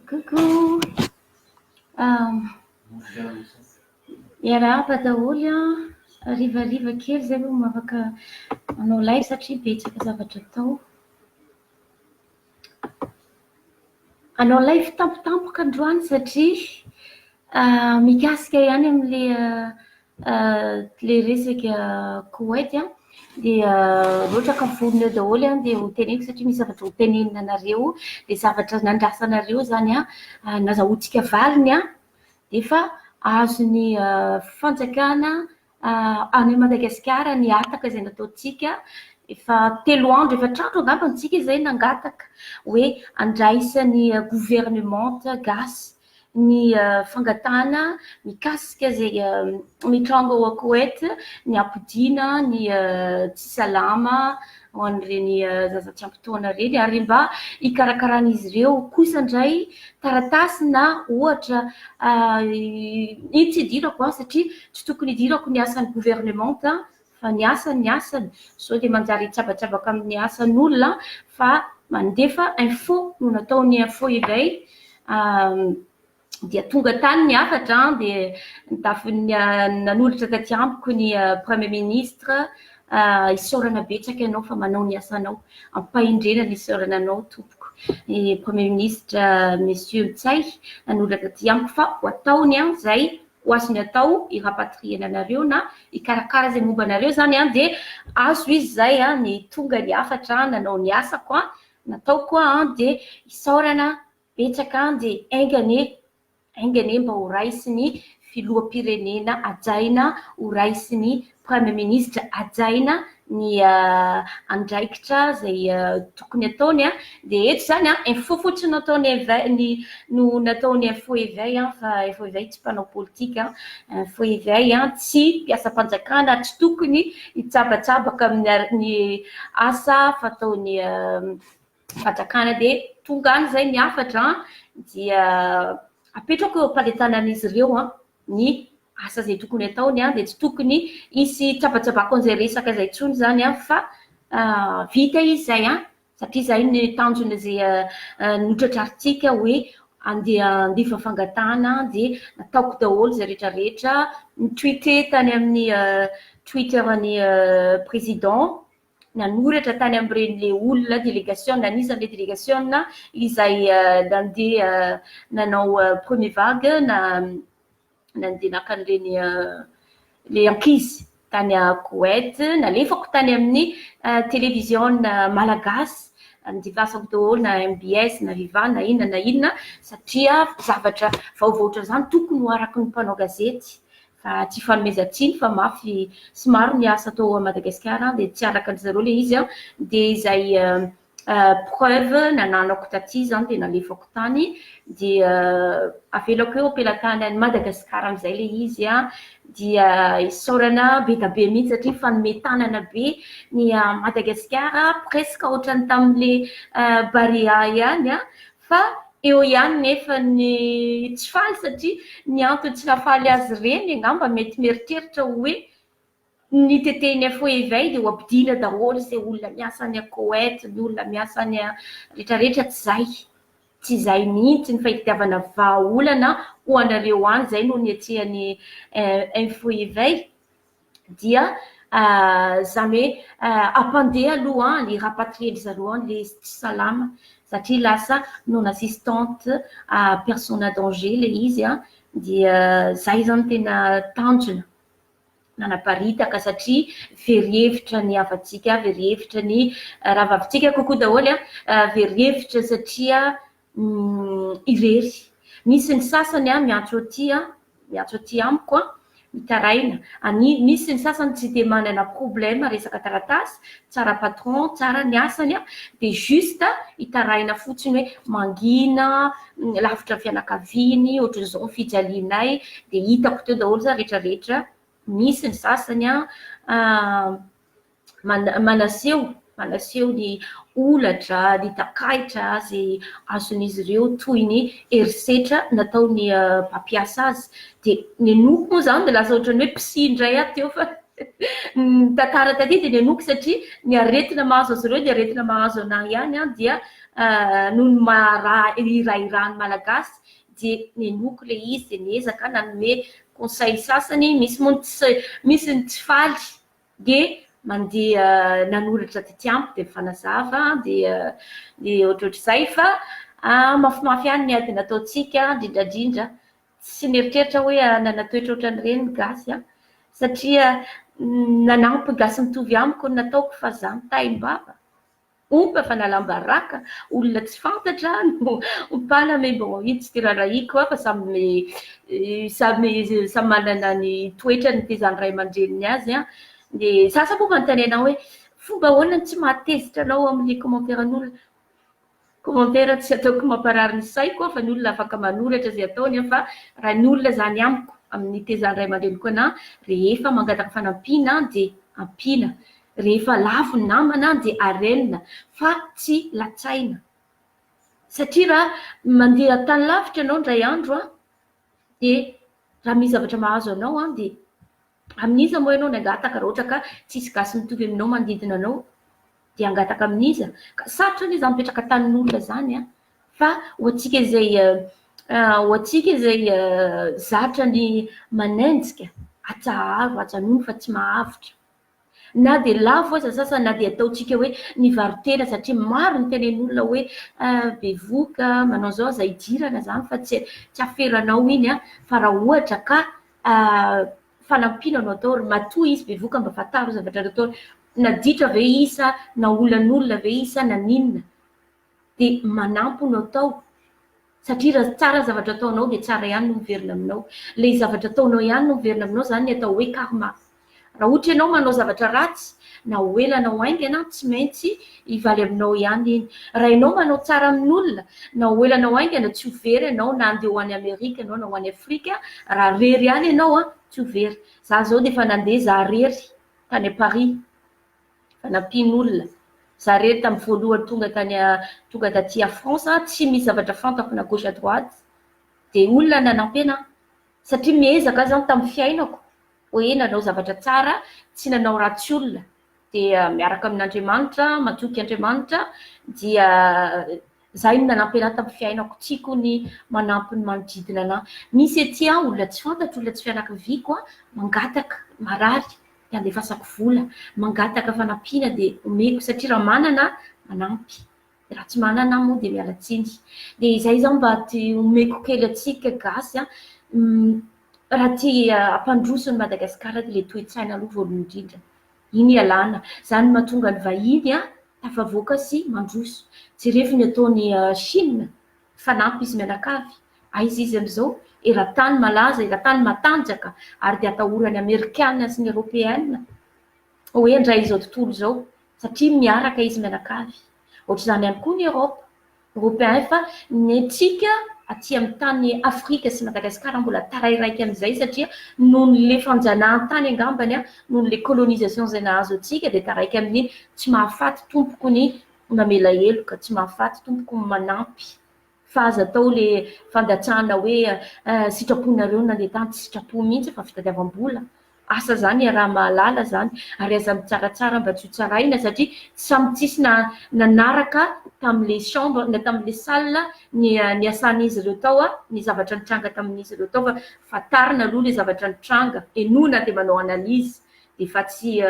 Coucou, miarahaba daholo an! Harivariva kely izay vao mba afaka manao live satria betsaka zavatra atao. Hanao live tampotampoka androany satria mikasika ihany amin'ilay. Ilay resaka Koweït dia rotraka vonona eo daholo dia ho teneniko satria misy zavatra ho tenenina anareo, dia zavatra nandrasanareo izany nazahoantsika valiny dia efa azon'ny fanjakana any Madagasikara ny hataka izay nataontsika, efa telo andro efatr'andro angamba isika izay nangataka hoe handraisan'ny governemanta gasy ny fangatahana mikasika izay mitranga ao Koet, ny hampodiana ny tsy salama ho an'ireny zaza tsy ampy taona ireny, ary mba hikarakaran'izy ireo kosa indray taratasy na ohatra, iny tsy hidirako an, satria tsy tokony hidirako ny asan'ny governemanta fa ny asany ny asany, sao dia manjary hitsabatsabaka amin'ny asan'olona fa mandefa info no nataony info indray dia tonga tany ny hafatra dia nitafin'ny nanolotra taty amiko ny premier ministre isaorana betsaka ianao fa manao ny asanao ampahendrena ny isaorana anao tompoko ny premier ministre monsieur Ntsay nanolotra taty amiko fa ho ataony an izay ho azony atao i rapatrier ny anareo na hikarakara izay momba anareo izany an, dia azo izy izay an, ny tonga ny hafatra an, nanao ny asako an, nataoko an, dia isaorana betsaka an, dia enga anie, enga anie mba ho raisiny filoham-pirenena hajaina, ho raisiny Praimiministra hajaina ny andraikitra izay tokony ataony dia eto izany info fotsiny no ataony éveil no nataony info éveil fa info éveil tsy mpanao politika info éveil tsy mpiasam-panjakana tsy tokony hitsabatsabaka amin'ny asa fataony fanjakana dia tonga any izay ny hafatra dia apetrako eo am-pandetanan'izy ireo an. ny asa izay tokony ataony an, dia tsy tokony hisy tsabatsabako an'izay resaka izay intsony izany an, fa vita izy izay an, satria izay ny tanjon'izay notratrarintsika hoe andeha handefa fangatahana an, dia nataoko daholo izay retraretra, ni-tweeter tany amin'ny twitter ny président nanoratra tany amin'ireny le olona delegasiona anisan'ny le delegasiona izay nandeha nanao premier vague na nandeha naka an'ireny le ankizy tany à Koweït nalefako tany amin'ny télévision malagasy nodivasako daholo na mbs na viva na inona na inona satria zavatra vaovaotra izany tokony ho araky ny mpanao gazety Fa tsy fanomezan-tsiny fa mafy sy maro ny asa atao à Madagascar dia tsy araka an-dry zareo ilay izy dia izay preuve nananako taty zany dia nalefako tany dia avelako eo am-pelantany an'i Madagascar amin'izay ilay izy dia isaorana bedabe mihitsy satria fanome tanana be ny à Madagascar presque ohatran'ny tamin'ilay Barea ihany Fa eo ihany nefa ny tsy faly satria ny antony tsy nahafaly azy ireny angamba mety mieritreritra ho hoe ny tetehiny à feu et veille dia ho ampodiana daholo izay olona miasa any à Koweït, ny olona miasa any à retraretra tsy izay, tsy izay mihitsy ny fahitiavana vahaolana ho anareo any izay no niatrehany à feu et veille. dia izany hoe hampandeha aloha any, rapatrier-ndry zareo any ilay izy tsy salama, satria lasa non assistante à personne en danger ilay izy an, dia izay izany tena tanjona nanaparitaka satria very hevitra ny havantsika, very hevitra ny rahavavintsika kokoa daholo an, very hevitra satria. irery. Misy ny sasany an, miantso aty an, miantso aty amiko an, mitaraina. Ani, misy ny sasany tsy dia manana problème resaka taratasy, tsara patron, tsara ny asany an, dia juste hitaraina fotsiny hoe mangina, lavitra ny fianakaviany, ohatran'izao ny fijalianay, dia hitako teo daholo izany rehetra rehetra. Misy ny sasany an. manaseho manaseho ny holatra, ny takaitra izay azon'izy ireo toy ny herisetra nataon'ny mpampiasa azy. Dia nenoiko moa izany dia lasa ohatran'ny hoe psy indray aho teo fa ny tantara taty dia nenoiko satria ny aretina mahazo azy ireo dia aretina mahazo an'ahy ihany dia noho ny maha hirahiraha ny Malagasy dia nenoiko ilay izy dia niezaka aho nanome conseil sasany, misy moa ny tsy misy ny tsy faly. Dia mandeha nanoratra tetiamiko dia mifanazava dia dia ohatrohatr'izay fa mafimafy ihany ny ady nataontsika indrindrandrindra tsy nieritreritra hoe hanana toetra ohatran'ireny ny gasy an! satria nanampy gasy mitovy amiko ny nataoko fa za mitahy mbava. Ompa fa nalam-baraka, olona tsy fantatra no mpana me mbô ino tsy tirarahiko fa samy samy samy manana ny toetrany nitezan'ny ray aman-dreniny azy an, ny sasany moa manontany anao hoe fomba ahoana no tsy mahatezitra anao amin'ny kômanteran'olona, kômantera tsy ataoko mamparary ny saiko an fa ny olona afaka manoratra izay ataony an fa raha ny olona izany amiko amin'ny nitezan'ny ray aman-dreniko anah rehefa mangataka fanampiana dia ampiana. rehefa lavo ny namana dia arelina fa tsy latsaina satria raha mandeha tany lavitra ianao indray andro dia raha misy zavatra mahazo anao dia amin'iza moa ianao no hangataka raha ohatra ka tsisy gasy mitovy aminao manodidina anao dia hangataka amin'iza? ka sarotra anie izany mipetraka tanin'olona izany fa ho antsika izay ho antsika izay zatra ny manenjika atsaharo ajanony fa tsy mahavotra. Na dia lavo aza sasany na dia ataontsika hoe nivaro-tena satria maro ny tenen'olona hoe bevoka, manao izao, aza idirana izany fa tsy afero anao iny an! Fa raha ohatra ka fanampiana no atao, matoa izy bevoka mba fantaro ny zavatra ataony, naditra ve izy sa naolan'olona ve izy sa naninona? dia manampy no atao satria raha tsara ny zavatra ataonao dia tsara ihany no miverina aminao. Ilay zavatra ataonao ihany no miverina aminao izany ny atao hoe karma. Raha ohatra ianao manao zavatra ratsy, na ho ela na ho haingana, tsy maintsy hivaly aminao ihany iny. Raha ianao manao tsara amin'olona, na ho ela na ho haingana, tsy ho very ianao na handeha ho any Amerika ianao na ho any Afrika, raha rery ihany ianao, tsy ho very. Izaho izao dia efa nandeha izaho rery tany Paris. fanampian'olona. Za rery tamin'ny voalohany tonga tany tonga taty à France an, tsy misy zavatra fantako na gauche à droite, dia olona nanampy ana, satria miezaka aho zany tamin'ny fiainako hoe nanao zavatra tsara, tsy nanao ratsy olona, dia miaraka amin'Andriamanitra, matoky Andriamanitra, dia Zay no nanampy anah tam fiainako tiako ny manampy ny manodidina anah misy ety an olona tsy fantatro olona tsy fianakaviako an mangataka marary de andefasako vola mangataka fanampiana de omeko satria raha manana ah manampy raha tsy manana ah moa de miala tsiny de izay zaho mba ty omeko kely atsika gasy an raha ty ampandroso ny Madagascar ty le toetsaina aloha voalohany indrindra Iny ialana. Izany no mahatonga ny vahiny tafavoaka sy mandroso. Jerevo ny ataon'i Chine. Fanampy izy mianakavy. Aiza izy amin'izao? Eran-tany malaza, eran-tany matanjaka, ary dia atahoran'ny Amerikana sy ny Eropeana hoe handray izao tontolo izao, satria miaraka izy mianakavy. Ohatr'izany ihany koa ny Eropa. Robin fa ny antsika aty amin'ny tany Afrika sy Madagascar mbola tarairaiky amin'izay satria nohon'ilay fanjanahantany angambany nohon'ilay colonisation izay nahazo antsika dia taraiky amin'ny tsy mahafaty tompoko ny mamela heloka, tsy mahafaty tompoko ny manampy fa aza atao ilay fandatsahana hoe sitraponareo nandeha tany, tsy sitrapo mihitsy fa fitadiavam-bola. asa zany iaraha mahalala zany ary aza mitsaratsara mba tsy ho tsaraina satria samy tsisy na nanaraka tamle chambre na tamle salle ny niasan'izy ireo tao a ny zavatra nitranga tamin'izy ireo tao fa fatarina aloha le zavatra nitranga enona de manao analyse de fa tsy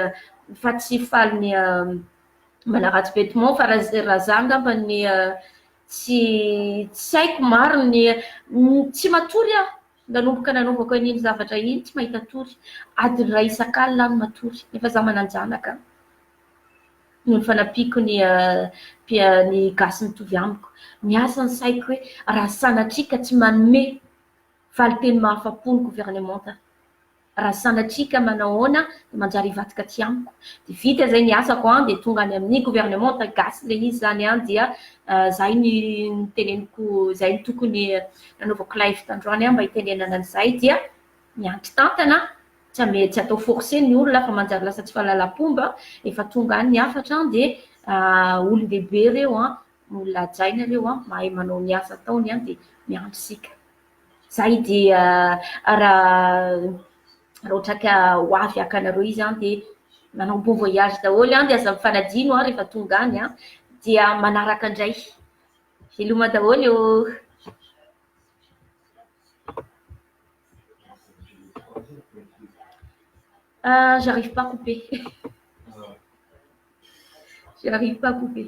fa tsy faly ny manaratsy vetement fa raha za angamba ny tsy tsy haiko maro ny tsy matory aho Nanomboka nanaovako an'iny zavatra iny tsy mahita tory, adiny iray isak'alina aho no matory, nefa za manan-janaka noho ny fanampiako ny ny gasy mitovy amiko. Miasa ny saiko hoe raha sanatria ka tsy manome valinteny mahafa-po ny governemanta. Raha sanatria ka manahoana dia manjary hivadika aty amiko. Dia vita izay ny asako an, dia tonga any amin'ny gouvernementa gasy ilay izy izany an, dia izay ny niteneniko, izay no tokony nanaovako live tandroany an mba hitenenana an'izay dia miandry tantana an, tsy ame, tsy atao forcer ny olona fa manjary lasa tsy fahalalam-pomba, efa tonga any ny hafatra an, dia olon-dehibe ireo an, olona hajaina ireo an, mahay manao ny asa ataony an, dia miandry isika. Zay dia raha ohatra ka ho avy haka anareo izy an dia manao bon voyage daholo an dia aza mifanadino an rehefa tonga any an dia manaraka indray veloma daholo eo ah j'arrive pas couper j'arrive pas couper